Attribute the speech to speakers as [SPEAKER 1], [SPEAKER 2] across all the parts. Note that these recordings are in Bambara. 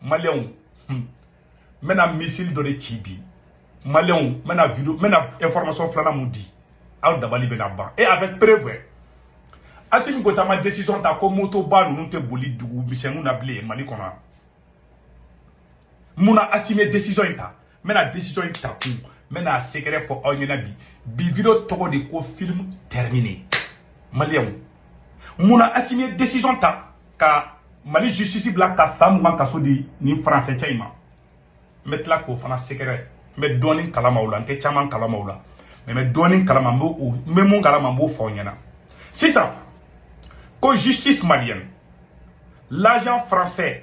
[SPEAKER 1] maliyɛnw n bɛna misili dɔ de ci bi maliyɛnw n bɛna video n bɛna information filanan min di aw dabali bɛna ban et avec preuve asimi goyita ma décision ta ko motoba ninnu tɛ boli dugu misɛnninw na bilen mali kɔnɔ mun na asimi ye décision in ta n bɛna decision in ta kun n bɛna sekɛrɛ fɔ aw ɲɛna bi bi video tɔgɔ de ko film terminé maliyɛnw mun na asimi ye decision ta ka mali justice bila ka san mugan kaso di nin faransɛ cɛ in ma n bɛ tila k'o fana sekɛrɛ n bɛ dɔɔnin kalama o la n tɛ caman kalama o la mais n bɛ dɔɔnin kalama n bɛ o n bɛ min kalama n b'o fɔ aw ɲɛna sisan ko justice malienne l'agent français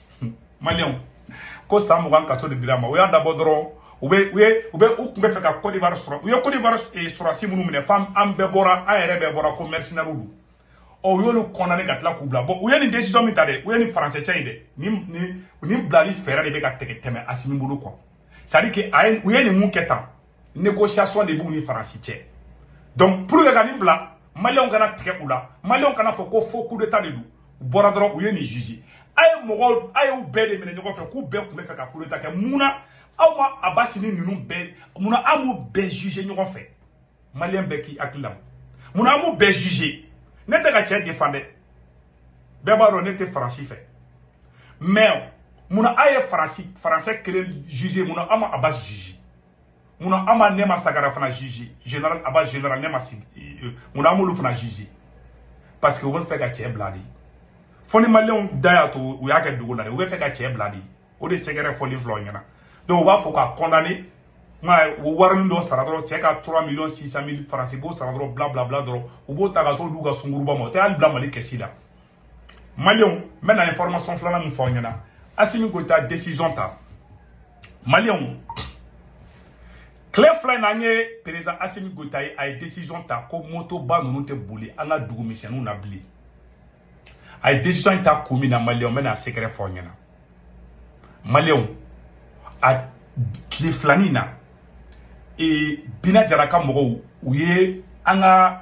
[SPEAKER 1] maliyɛnw ko san mugan kaso de dira a ma u y'a dabɔ dɔrɔn u bɛ u ye u bɛ u tun bɛ fɛ ka kɔdiwari sɔrɔ u ye kɔdiwari sɔrɔdasi minnu minɛ fo an bɛɛ bɔra an yɛrɛ bɛɛ bɔra ko mɛrisinɛriw don ɔ u y'olu condamné ka tila k'u bila bon u ye nin desizɔn min ta dɛ u ye nin faransɛ cɛ in dɛ nin nin nin bilali fɛɛrɛ de bɛ ka tigɛ tɛmɛ asimi bolo kɔ c'est à dire que a ye u ye nin min kɛ tan négociation de b'u ni faransi cɛ donc pour que ka nin bila maliyɛnw kana tigɛ u la maliyɛnw kan'a fɔ ko faux coup d'état de don u bɔra dɔrɔn u ye nin juge aw ye mɔgɔw aw y'u bɛɛ de minɛ ɲɔgɔn fɛ k'u bɛɛ tun bɛ fɛ ka coup d'état kɛ mun na aw ma abasi ni ninnu bɛɛ mun na aw m'u bɛɛ juge ɲɔgɔn fɛ maliyɛn bɛɛ k'i hakili labɔ mun na aw m'u bɛɛ juge ne tɛ ka cɛ defan dɛ bɛɛ b'a dɔn ne tɛ faransi fɛ mais mun na aw ye faransi faransɛ kelen juge mun na aw ma abasi juge mun na aw ma nɛma sagara fana juge general abasi general nɛma sagara mun na aw m'olu fana juge parce que u bɛ fɛ ka cɛ bila de fo ni maliyɛnw da y'a to u y'a kɛ dogo la de u bɛ fɛ ka cɛ bila de o de sekɛrɛ fɔli filɛ aw ɲɛna donc u b'a fɔ k'a condamné nka warinin dɔ sara dɔrɔn cɛ ka 3 millions 600 mille faransi b'o sara dɔrɔn bla bla bla dɔrɔn u b'o ta ka t'o d'u ka sungurunba ma o tɛ hali bila mali kɛsi la maliyɛnw n bɛna information filanan min fɔ aw ɲɛna asimi goyita décision ta maliyɛnw tile fila in na an ye perezan asimi goyita ye a ye décision ta ko motoba ninnu tɛ boli an ka dugu misɛnninw na bilen a ye décision in ta kun min na maliyɛnw n bɛna secret fɔ aw ɲɛna maliyɛnw a tile fila nin na ee bina jara ka mɔgɔw u ye an ka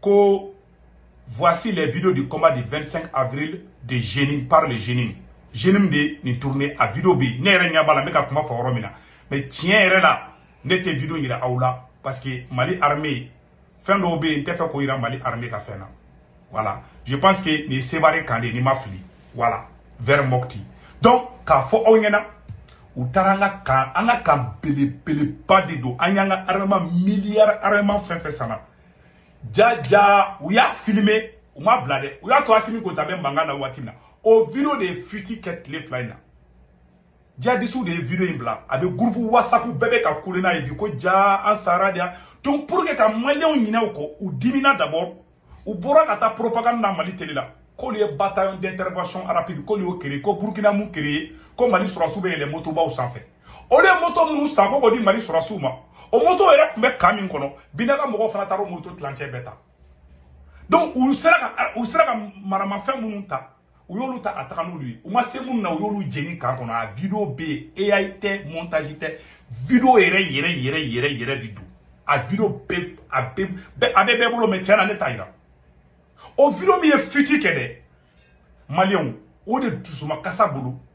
[SPEAKER 1] ko voici les vidéos du combat du 25 avril de JNIM par le JNIM JNIM de nin tourné a vidéo bɛ ne yɛrɛ ɲɛ b'a la n bɛ ka kuma fɔ yɔrɔ min na mais tiɲɛ yɛrɛ la ne tɛ vidéo yira aw la parce que Mali armée fɛn dɔw bɛ yen n tɛ fɛ k'o yira Mali armée ka fɛn na voilà je pense que nin ye Sevare kan de ye ni n ma fili voilà vers mɔkiti donc k'a fɔ aw ɲɛna u taara an ka kan an ka kan belebeleba de don an y'an ka armement miliyari armement fɛn fɛn sanna jaja u y'a filime u m'a bila dɛ u y'a to asimi goyita bɛ mankan na waati min na o video de ye fuite kɛ tile fila in na jihadisiw de ye video in bila a bɛ gurupu wasapu bɛɛ bɛ ka kule n'a ye bi ko jaa an sara de yan donc pour que ka maliyɛnw ɲinɛ o kɔ u dimina d'abord u bɔra ka taa propagande na mali tele la k'olu ye bataillon d'intervention rapide k'olu y'o créé ko burkina min créé ko mali sɔrɔsiw bɛ yɛlɛ motobaw sanfɛ olu ye moto minnu san ko k'o di mali sɔrɔsiw ma o moto yɛrɛ tun bɛ kan min kɔnɔ bina ka mɔgɔw fana taara o moto tilancɛ bɛɛ ta donc u sera ka u sera ka maramafɛn minnu ta u y'olu ta ka taga n'olu ye u ma se minnu na u y'olu jeni kan kɔnɔ a video bɛ yen ai tɛ montage tɛ video yɛrɛ yɛrɛ yɛrɛ yɛrɛ yɛrɛ de don a video bɛ a bɛ a bɛ bɛɛ bolo mais tiɲɛ na ne t'a yira o video min ye fuite kɛ dɛ maliyɛnw o de dusuma kasa bolo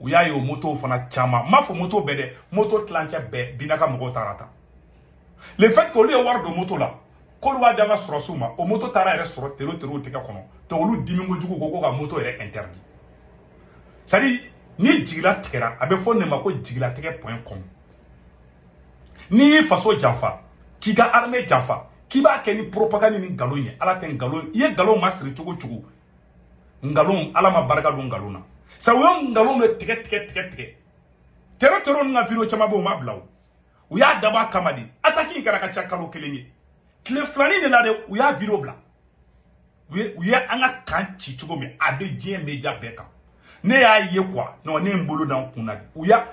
[SPEAKER 1] u y'a ye o motow fana caman n m'a fɔ moto bɛɛ dɛ moto tilancɛ bɛɛ bina ka mɔgɔw taara a ta le fait que olu ye wari don moto la k'olu b'a di an ka sɔrɔsiw ma o moto taara yɛrɛ sɔrɔ tero terow tɛgɛ kɔnɔ donc olu dimi kojugu ko ko ka moto yɛrɛ interdit c'est à dire ni jigi latigɛra a bɛ fɔ ne ma ko jigilatigɛ point com n'i y'i faso janfa k'i ka armée janfa k'i b'a kɛ ni propagande ni nkalon ye ala tɛ nkalon i ye nkalon masiri cogo cogo nkalon ala ma barika don nkalon na sa u ye nkalon de tigɛ tigɛ tigɛ tigɛ tero tero ninnu ka video caman bɛ u ma bila o u y'a dabɔ a kama de ataki in kɛra ka ca kalo kelen ye tile filanin nin na de u y'a video bila u ye u ye an ka kan ci cogo min a bɛ diɲɛ media bɛɛ kan ne y'a ye quoi non ne ye n bolo da n kun na de u y'a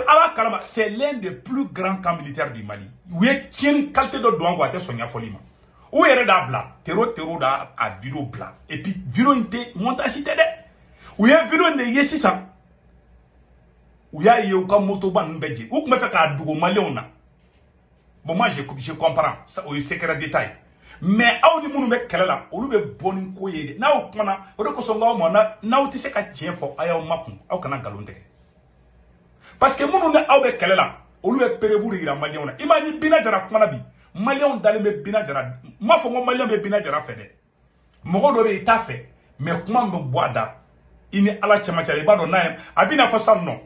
[SPEAKER 1] ala kalama c'est l'un des plus grands camps militaires du mali u ye tiɲɛni qualité dɔ don an kun a tɛ sɔn ɲɛfɔli ma u yɛrɛ d'a bila tero tero d'a video bila et puis video in tɛ montage tɛ dɛ u ye video in de ye sisan u y'a ye u ka motoba ninnu bɛɛ jeni u tun b'a fɛ k'a dogo maliyɛnw na bon moi je, je comprends ça, o ye secret d'état ye mais aw ni minnu bɛ kɛlɛ la olu bɛ bɔ ni ko ye de n'aw kumana o de kosɔn n k'aw ma n'aw tɛ se ka tiɲɛ fɔ a y'aw makun aw kana nkalon tigɛ parce que minnu ni aw bɛ kɛlɛ la olu bɛ preuve de yira maliyɛnw na i m'a ye ni bina jara kumana bi maliyɛnw dalen bɛ bina jara n m'a fɔ n ko maliyɛn bɛ bina jara fɛ dɛ mɔgɔ dɔ bɛ i t'a fɛ mais kuma min bɛ bɔ a da i ni ala cɛmancɛ la i b'a dɔn n'a ye a bɛna fɔ sisan non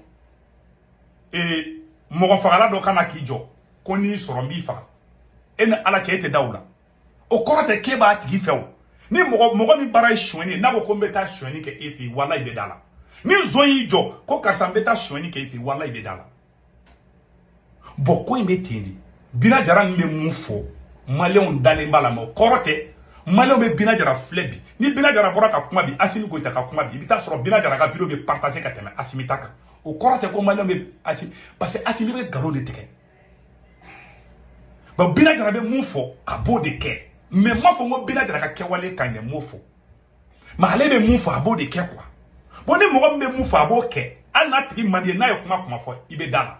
[SPEAKER 1] ee mɔgɔfagala dɔ ka na k'i jɔ ko n'i sɔrɔ n b'i faga e ni ala cɛ e tɛ da o la o kɔrɔ tɛ k'e b'a tigi fɛ o ni mɔgɔ mɔgɔ min baara ye sonyɛni ye n'a ko ko n bɛ taa sonyɛni kɛ e fɛ yen walayi i bɛ d'a la ni nson y'i jɔ ko karisa n bɛ taa sonyɛni kɛ e fɛ yen walayi i bɛ d'a la bɔn ko in bɛ ten de bina jara min bɛ mun fɔ maliyɛnw dalen b'a la mɛ o kɔrɔ tɛ maliyɛnw bɛ bina jara filɛ bi ni bina jara bɔra ka kuma bi asimi goyita ka kuma bi i bɛ taa sɔrɔ bina jara ka video bɛ partase ka tɛmɛ asimi ta kan o kɔrɔ tɛ ko maliyɛnw bɛ asimi parce que asimi bɛ nkalon de tigɛ bɔn bina jara bɛ mun fɔ a b'o de kɛ mɛ n m'a fɔ n ko bina jara ka kɛwale ka ɲi n m'o fɔ mɛ ale bɛ mun fɔ a b'o de kɛ quoi bɔn ni mɔgɔ min bɛ mun fɔ a b'o kɛ hali n'a tigi man di i ye n'a ye kuma kuma fɔ i bɛ da a la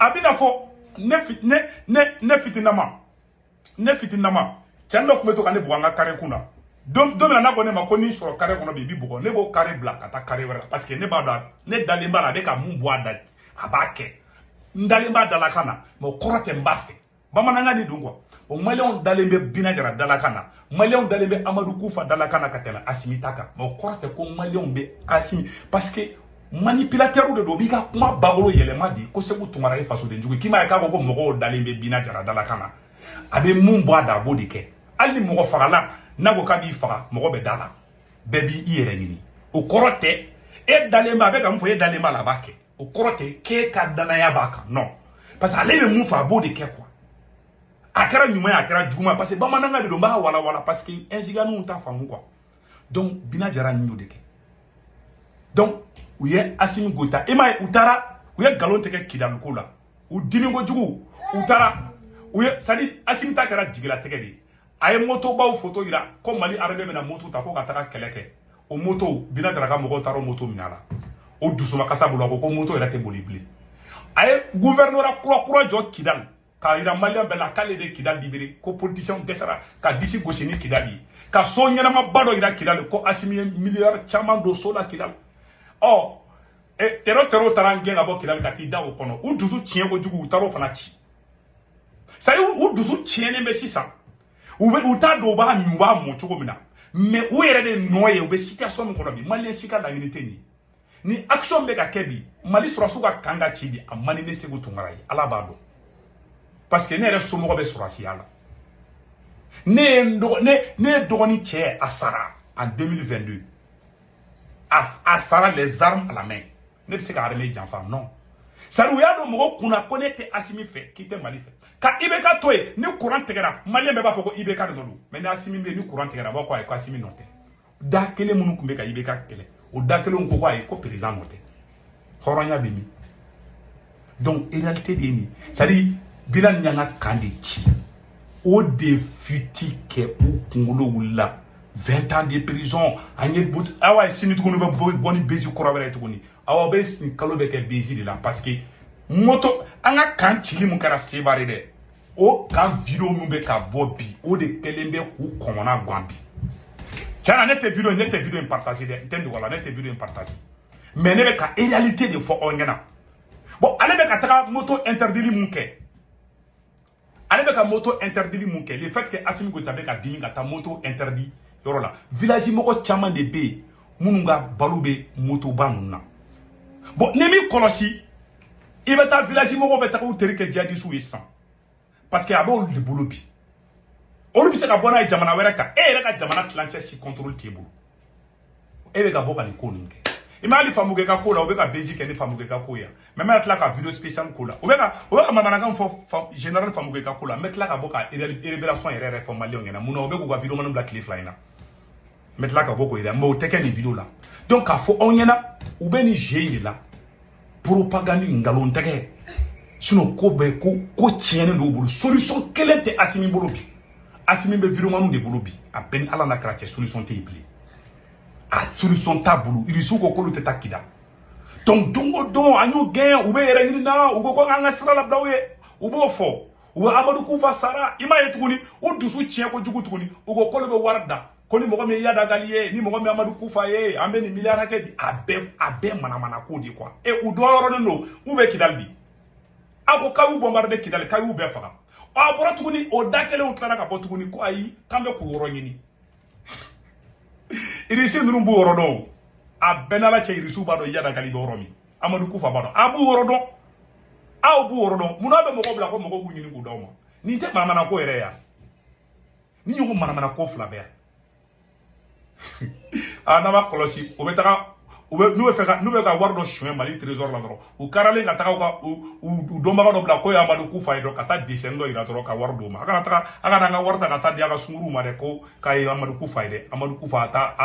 [SPEAKER 1] a bɛna fɔ ne ne ne ne fitinama ne fitinama cɛnin dɔ tun bɛ to ka ne bugɔ an ka kare kun na don don min na n'a ko ne ma ko n'i sɔrɔ kare kɔnɔ bi n b'i bugɔ ne b'o kare bila ka taa kare wɛrɛ la parce que ne b'a dɔn ne dalen b'a la a bɛ ka mun bɔ a da a b'a kɛ n dalen b'a dalakan na mɛ o kɔrɔ tɛ n b'a fɛ bamanankan de don quoi o maliyɛnw dalen bɛ bina jara dalakan na maliyɛnw dalen bɛ amadu kufa dalakan na ka tɛmɛ asimi ta kan mɛ o kɔrɔ tɛ ko maliyɛnw bɛ asimi parce que manipilatɛriw de don u b'i ka kuma bakolo yɛlɛma de ko seku tunkara ye fasodenjugu k'i m'a ye k'a fɔ ko mɔgɔw dalen bɛ bina jara dalakan na a bɛ mun bɔ a da a b'o de kɛ hali ni mɔgɔ fagala n'a ko k'a b'i faga mɔgɔ bɛ da a la bɛɛ b'i yɛrɛ ɲini o kɔrɔ tɛ e dalen b'a a bɛ ka mun fɔ e dalen b'a la a b'a kɛ o kɔrɔ tɛ k'e ka danaya b'a kan non parce que ale bɛ mun fɔ a b'o de kɛ quoi a kɛra ɲuman ye a kɛra juguman parce que bamanankan de don n b'a walawala parce que ɛnsiganiw t'a faamu quoi donc bina jara nin y'o de kɛ donc u ye asimi goyita i m'a ye u taara u ye nkalon tɛgɛ kidali ko la u dimi kojugu u taara u ye c'est-à-dire asimi ta kɛra jigilatigɛ de ye a ye motobaw foto yira ko mali armée bɛna moto ta ko ka taga kɛlɛ kɛ o moto bina jara ka mɔgɔw taara o moto minɛ a la o dusumakasi bolo a ko ko moto yɛrɛ tɛ boli bilen a ye guvɛrinora kura kura jɔ kidali k'a yira maliyɛn bɛɛ la k'ale de kidali libere ko politisiyɛnw dɛsɛra ka disi gosi ni kidali ye ka so ɲɛnamaba dɔ yira kidali ko asimi ye miliyari caman don so la kidali ɔ tero terow taara an gɛn ka bɔ kidali ka t'i da o kɔnɔ u dusu tiɲɛ kojugu u taara o fana ci c'est-à-dire u dusu tiɲɛnen bɛ sisan u bɛ u t'a dɔn u b'a min u b'a mɔ cogo min na mɛ u yɛrɛ de nɔ ye u bɛ situation min kɔnɔ bi maliyɛn si ka laɲini tɛ nin ye ni action bɛ ka kɛ bi mali sɔrɔsiw ka kan ka ci bi a man di ne seku tunkara ye ala b'a dɔn parce que ne yɛrɛ somɔgɔ bɛ sɔrɔsiya la ne ye n dɔgɔ ne ne ye dɔgɔnin cɛ a sara en 2022 a a sara les armes à la main ne bɛ se ka armée janfa non c'est-à-dire u y'a don mɔgɔw kun na ko n'i tɛ asimi fɛ k'i tɛ mali fɛ ka ibk to yen ni kuran tigɛra maliyɛn bɛɛ b'a fɔ ko ibk de nɔ don mɛ ni asimi bɛ yen ni kuran tigɛra a bɛɛ ko ayi ko asimi nɔ tɛ da kelen minnu tun bɛ ka ibk kɛlɛ o da kelenw ko ko ayi ko perezidan nɔ tɛ hɔrɔnya bɛ min donc réalité de ye nin c'est à dire binani y'an ka camp de ci o de fiti kɛ u kunkolo wulila 20 ans de prison an ye but awa ye sini tuguni bɛ bɔ ni buzz kura wɛrɛ ye tuguni awa bɛ sini kalo bɛ kɛ buzz de la parce que moto an ka camp cili mun kɛra sebare dɛ o camp video min bɛ ka bɔ bi o de kɛlen bɛ k'u kɔnɔna gan bi tiɲɛ na ne tɛ video ne tɛ video in partage dɛ n tɛ n don o la ne tɛ video in partage mais ne bɛ ka réalité de fɔ aw ɲɛna bon ale bɛ ka taga moto interdili mun kɛ ale bɛ ka moto interdili mun kɛ le fait que asimi goyita bɛ ka dimi ka taa moto interdit yɔrɔ la village mɔgɔ caman de bɛ yen minnu ka balo bɛ motoba ninnu na bon n'i m'i kɔlɔsi i bɛ taa village mɔgɔw bɛ taga u teri kɛ jihadisiw ye sisan parce que a b'olu de bolo bi olu bɛ se ka bɔ n'a ye jamana wɛrɛ kan e yɛrɛ ka jamana tilancɛ si contrôle t'e bolo e bɛ ka bɔ ka nin ko ninnu kɛ i ma hali famukɛ ka ko la u bɛ ka buzz kɛ ni famukɛ ka ko ye mais n bɛ tila ka video spécial k'o la u bɛ ka u bɛ ka manamanakan fɔ général famukɛ ka ko la n bɛ tila ka bɔ ka révélation yɛrɛ yɛrɛ fɔ maliyɛnw ɲɛna mun na u bɛ k'u ka videomaniw bila tile fila in na n bɛ tila ka bɔ k'o jira mais o tɛ kɛ nin video la donc k'a fɔ aw ɲɛna u bɛ nin jeu in de la propagande nkalon tɛgɛ sinon ko bɛɛ ko ko tiɲɛnen don u bolo solution kelen tɛ asimi bolo bi asimi bɛ videomaniw de bolo bi a bɛ n ni ala n'a kira cɛ solution tɛ yen bilen a solution t'a bolo irisiw ko k'olu tɛ taa kidal donc don o don an y'u gɛn u bɛ yɛrɛ ɲini an na u ko ko an ka sira labila u ye u b'o fɔ u bɛ amadu kufa sara i m'a ye tuguni u dusu tiɲɛ ko jugu tuguni u ko k'olu bɛ wari da ko ni mɔgɔ min ye yadagali ye ni mɔgɔ min amadu kufa ye an bɛ nin miliyari hakɛ di a bɛɛ a bɛɛ manamana ko de quoi e u dogoyɔrɔnin don k'u bɛ kidali di a ko k'a y'u bombarder kidali k'a y'u bɛɛ faga a bɔra tuguni o da kelenw tilara ka bɔ tuguni ko ayi k'an bɛ k'u yɔrɔ ɲini irisi ninnu b'u yɔrɔ dɔn o a bɛ n ni ala cɛ irisiw b'a dɔn yadagali bɛ yɔrɔ min amadu kufa b'a dɔn a b'u yɔrɔ dɔn aw b'u yɔrɔ dɔn munna a bɛ mɔgɔw bila ko mɔgɔw k'u ɲini k'u d'aw ma nin tɛ manamana ko yɛrɛ ya nin ɲɔgɔn ko manamana ko fila bɛ yan a n'a m'a kɔlɔsi u bɛ taga u bɛ n'u bɛ fɛ ka n'u bɛ ka wari dɔ suɲɛ mali trésor la dɔrɔn u karalen ka taga ka u dɔnbaga dɔ bila k'o ye amadu kufa ye dɔ ka taa dessin dɔ yira dɔrɔn ka wari d'o ma a kana taga a kana an ka wari ta ka taa di a ka sunkuruw ma dɛ ko k'a ye amadu kufa ye dɛ amadu kufa a ta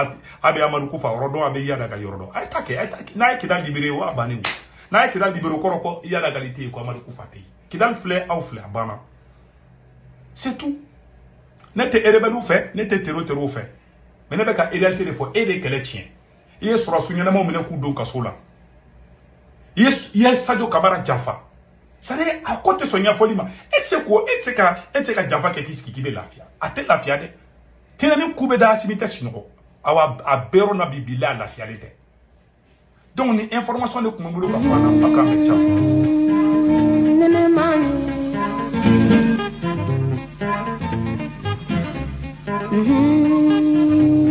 [SPEAKER 1] a bɛ amadu kufa yɔrɔ dɔn a bɛ yada ka yɔrɔ dɔn a ye taa kɛ a ye taa kɛ n'a ye kidal libérer o a bannen n'a ye kidal libérer o kɔrɔ ko yadagali tɛ yen ko amadu kufa tɛ yen kidal filɛ aw filɛ a banna c'est tout ne tɛ erebɛliw fɛ ne tɛ tero terow fɛ mais ne bɛ ka réalité de fɔ e de ye kɛlɛ tiɲɛ i ye sɔrɔdasi ɲɛnamaw minɛ k'u don kaso la i ye sajo kamara janfa sari a ko tɛ sɔn ɲɛfɔli ma e tɛ e tɛ se ka janfa kɛ k'i sigi k'i bɛ lafiya a tɛ lafiya dɛ tɛnɛni ku bɛ da asimi tɛ sunɔgɔ awa a bɛ yɔrɔ na bi bi la a lafiyalen tɛ donc nin information de tun bɛ n bolo ka fɔ a la aw k'a mɛn ca.